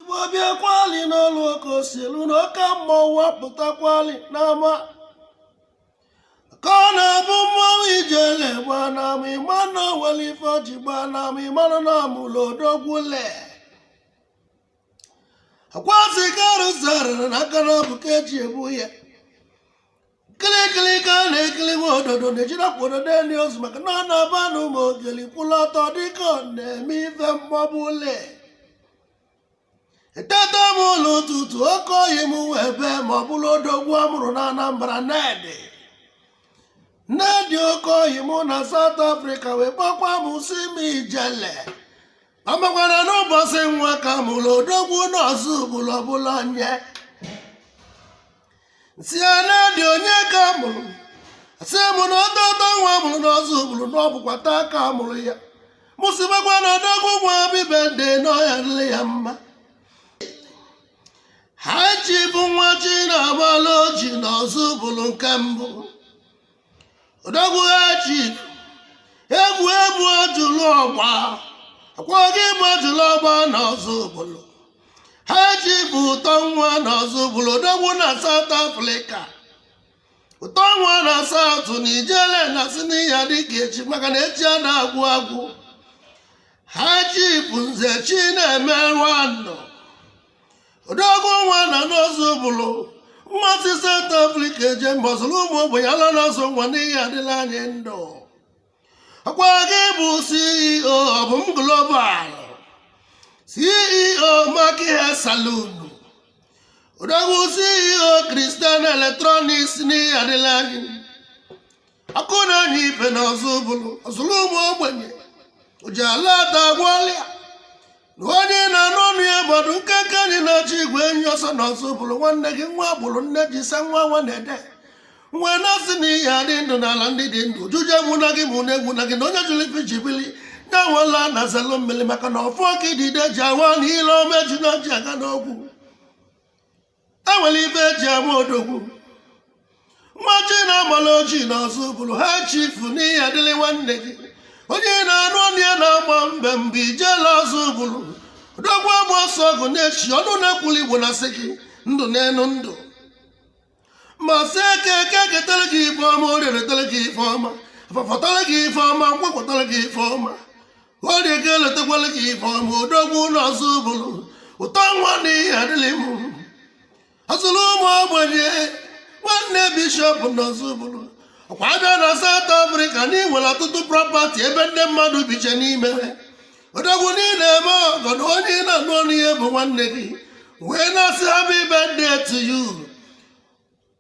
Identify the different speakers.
Speaker 1: ọ bịakwali n'ọlụ oke osilu na oke mmọnwụ apụtakwali n'ama ka ọ na-abụ mmọnwụ ijele gba n'ama ị ma na o wele ife ji gba n'ama ị mara na a mụlụ odogwu le akwasị ka arụzarịrị na aka naabọ ka eji ebu ya kilikili ka a na-ekili uwe ododo na-ejiri akwa ododo eli ozu maka na ọ na-aba na ụmụ ogeli kwụlụ ọtọ dịka ọ na-eme ife mmọbụ ụlọ eteta m ụla ụtụtụ oke ọyị m wee bee ma ọ bụrụ odogwu a mụrụ na anambra nedi nedi oke ọyị mụ na South Africa wee kpọkwa m sị m ijele ọ makwara n'ụbọsị nwa ka a mụrụ odogwu n'Ozubulu ọbụla nye sị ya na-adị onye ka a mụrụ sị mụ na ọtọtọ nwa a mụrụ n'Ozubulu na ọ bụkwa taa ka a mụrụ ya mụ sị makwa na odogwu nwa bibe dị n'ọhịa nle ya mma High Chief nwa chi na-agbala ọjị n'Ozubulu nke mbụ odogwu High Chief egwu egwu ojulu ọgba ọkwa gị bụ ojulu ọgba na Ozubulu High Chief ụtọ nwa na Ozubulu odogwu na South Africa ụtọ nwa na South na ijele na sị n'ị ya-adị ka echi maka na echi ada agwụ agwụ High Chief nze chi na-eme nwanọ odogwu nwa nọ n'Ozubulu ma si South Africa eje mba ọzụrụ ụmụ ogbenye ala na-azụ nwa n'ị ya-adịla anyị ndụ ọkwa gị bụ CEO Obum Global CEO Maki Hair Saloon odogwu CEO Christian Electronics n'ị ya-adịla anyị ọkụ na-enye ife na Ozubulu ọzụrụ ụmụ ogbenye ọjị a na-ata agwọ ọlịa na onye na-anụ onu ya gbado nkenke enyi na-achụ igwe enyi ọsọ na Ozubulu nwanne gị nwa agbụrụ nne ji sa nwa nwa na-ede nwe na-asị na ị ya-adị ndụ n'ala ndị dị ndụ ojije egwuna gị ma ụna egwuna gị na onye jụrụ ife ji bili ya nwela na zelu mmiri maka na ọfọ ka idide ji awa ana ile ọma ejuna ji aga n'ogwu enwere ife eji ama odogwu nwa chi na-agbala ọjị n'Ozubulu High Chief n'ị ya-adịlị nwanne gị onye ị na-anụ onu ya na-agba mbem bụ ijele Ozubulu odogwu agba ọsọ ọgụ na-echi ọnụ na-ekwuli igbo na sị gị ndụ n'elu ndụ ma sị eke eke ketara gị ife ọma orie retara gị ife ọma afọ fọtara gị ife ọma nkwọ kwọtara gị ife ọma orie ga-elotekwala gị ife ọma odogwu na Ọzụbụlụ ụtọ nwa na ihe adịlị m ọzụrụ ụmụ ogbenye nwanne bishọp na Ọzụbụlụ ọkwa a bịa na South Africa na i nwere ọtụtụ prọpati ebe ndị mmadụ biche n'ime odogwu niile eme ọgọ na onye ị na-anụ ọnụ ihe bụ nwanne gị wee na-asị happy birthday to you